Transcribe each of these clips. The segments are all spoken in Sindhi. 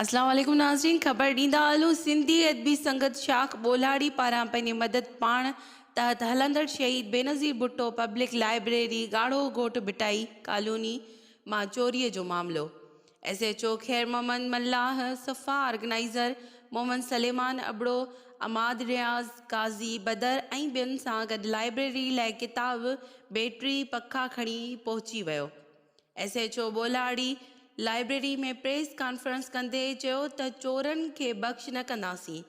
اسلام عليڪم ناظرين خبر ڏيندا هلون سنڌي ادبي سنگت شاخ ٻولهاڙي پاران پنهنجي مدد پاڻ تحت هلندڙ شهيد بينظير ڀٽو پبلڪ لائبريري ڳاڙهو گهوٽ ڀٽائي ڪالوني مان چوري جو معاملو S H O Khair Muhammad Mallah, صفا آرگنائيزر محمد سليمان ابڙو، عماد رياض، قاضي بدر ۽ ٻين سان گڏ لائبريري لئه ڪتاب، بيٽري، پکا کڻي پهچي ويو. S H O Bolhari library ۾ press conference ڪندي چيو ته چورن کي بخش نه ڪنداسين،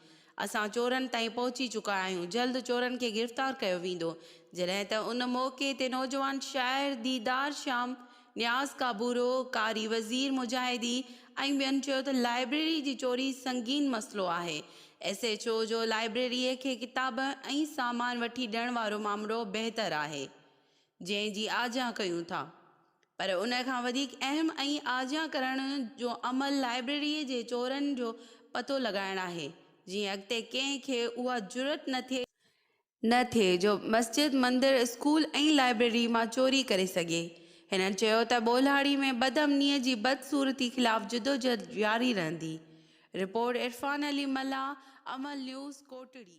اسان چورن تائين پهچي چڪا آهيون، جلد چورن کي گرفتار ڪيو ويندو. جڏهن ته ان موقعي تي نوجوان شاعر ديدار شيام، نياز ڪابورو، قاري وزير مجاهدي ۽ ٻين چيو ته لائبريري جي چوري سنگين مسئلو آهي، ايس ايڇ او جو لائبريري کي ڪتاب ۽ سامان وٺي ڏيڻ وارو مامرو بهتر آهي، جنهن جي آجيان ڪيون ٿا پر ان کان وڌيڪ اهم ۽ آجيان ڪرڻ جو عمل لائبريريء جي چورن جو پتو لڳائڻ آهي جيئن اڳتي ڪنهن کي اها جرئت نه ٿئي نه ٿئي جو مسجد، مندر، اسڪول ۽ لائبريري مان چوري ڪري سگهي. هنن چيو ته ٻولهاڙي ۾ بد امنيء جي بدصورتي خلاف جدوجهد جاري رهندي. رپورٽ عرفان علي ملاح، عمل نيوز، ڪوٽڙي.